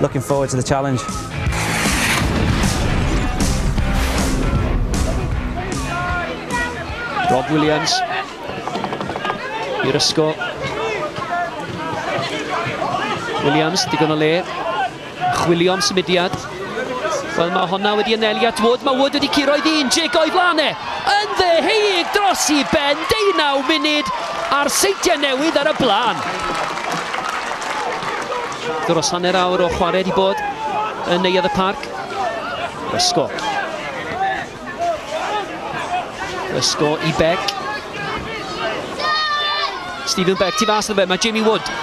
Looking forward to the challenge. Rob Williams i'r ysgol. Williams, digon o le. Chwilio am symudiad. Wel, mae honna wedi anelu at Wood. Mae Wood wedi curo i ddyn, Jake o'i flan e. Yn ddeheig dros i ben, 19 munud a'r seitiau newydd ar y blaen. Dros hanner awr o chwarae wedi bod yn Neuadd y Parc. Ysgo. Ysgo i Beck. Stephen Beck, tu fas na fe, mae Jamie Wood.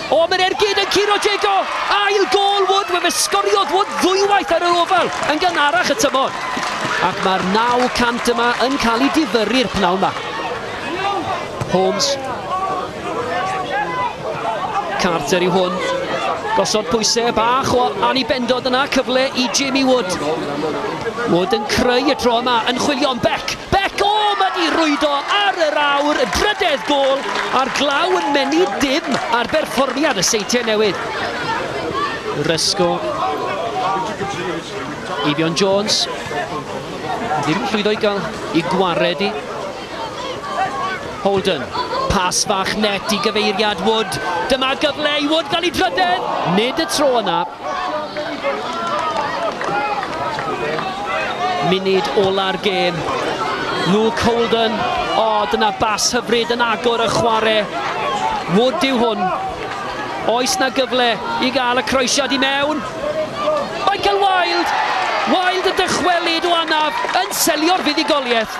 O, mae'r ergyd yn curo Diego! Ail gol Wood, mae fe sgoriodd Wood ddwywaith ar yr ofal yn gan arach y tymor. Ac mae'r 900 yma yn cael ei difyrru'r pnawn yma. Holmes Carter yw hwn. Gosod pwysau bach o Annie Bendod yna, cyfle i Jamie Wood. Wood yn creu y tro yma, yn chwilio am Beck. Beck, o, oh, mae di rwydo ar yr awr, drydedd gol, a'r glaw yn mennu dim ar berfformiad y seintiau newydd. Rysgo. Eifion Jones. Ddim llwyddo i gael i gwared i. Holden, pas fach net i gyfeiriad Wood. Dyma gyfle i Wood gael ei drydedd, nid y tro yna. Munud ola'r gêm. Luke Holden, o, oh, dyna bas hyfryd yn agor y chwarae. Wood yw hwn. Oes na gyfle i gael y croesiad i mewn? Michael Wilde! Wilde y dychwelyd o anaf yn selio'r fuddugoliaeth.